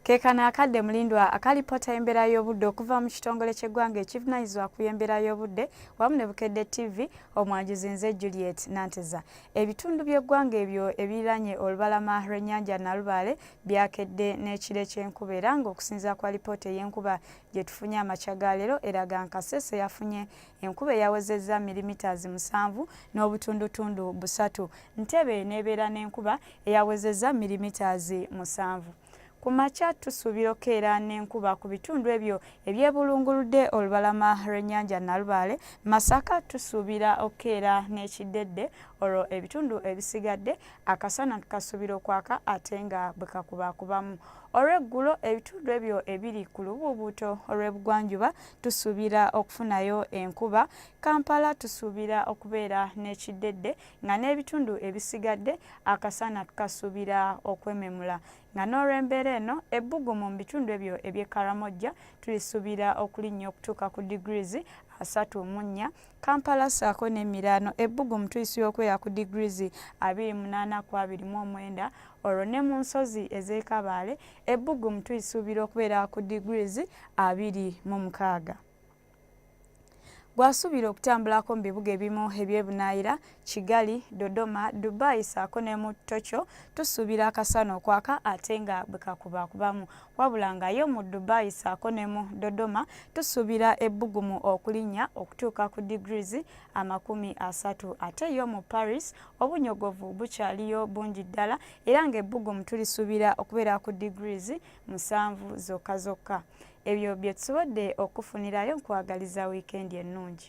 Kekano akadde mulindwa akalipota embera y'obudde okuva mu kitongole ky'eggwanga ekivunanyizibwa ku y'embeera y'obudde wamu ne Bukedde TV omwanjuzi nze Juliet Nanteza. Ebitundu by'eggwanga ebyo ebiranye olubalama lw'ennyanja Nalubaale byakedde n'ekire ky'enkuba era ng'okusinziira kwa lipoota ey'enkuba gye tufunye amakya ga leero eraga nkasese yafunye enkuba eyawezezza milimitazi musanvu n'obutundutundu busatu. Ntebe n'ebeera n'enkuba eyawezezza mirimitaazi musanvu. Ku makya tusuubira okukeera n'enkuba ku bitundu ebyo ebyebulunguludde olubalama lw'ennyanja Nalubaale. Masaka tusuubira okukeera n'ekiddedde olwo ebitundu ebisigadde akasana kasuubira okwaka ate nga bwe kakubakubamu. Olw'eggulo ebitundu ebyo ebiri ku lubuubuuto olw'ebugwanjuba tusuubira okufunayo enkuba. Kampala tusuubira okubeera n'ekiddedde nga n'ebitundu ebisigadde akasana kasuubira okwememula nga n'olw'embeera eno ebbugumu mu bitundu ebyo eby'e Karamojja tulisuubira okulinnya okutuuka ku degrees asatu mu nnya kampala ssaako n'emiraano ebbugumu tuyisibwa okubeera ku degrees abiri munaana ku abiri mu omwenda olwo ne mu nsozi ez'ekabaale ebbugumu tulisuubira okubeera ku degrees abiri mu mukaaga gwasuubira okutambulako mu bibuga ebimu ebyebunaayira kigali dodoma dubai saako ne mu tokyo tusuubira akasana okwaka ate nga bwe kakubakubamu wabula nga yo mu dubai saako ne mu dodoma tusuubira ebbugumu okulinnya okutuuka ku degrees amakumi asatu ate yo mu paris obunyogovu bukyaliyo bungi ddala era nga ebbugumu tulisuubira okubeera ku degrees musanvu zokka zokka Ebyo bye tusobodde okukufunirayo nkwagaliza wiikendi ennungi.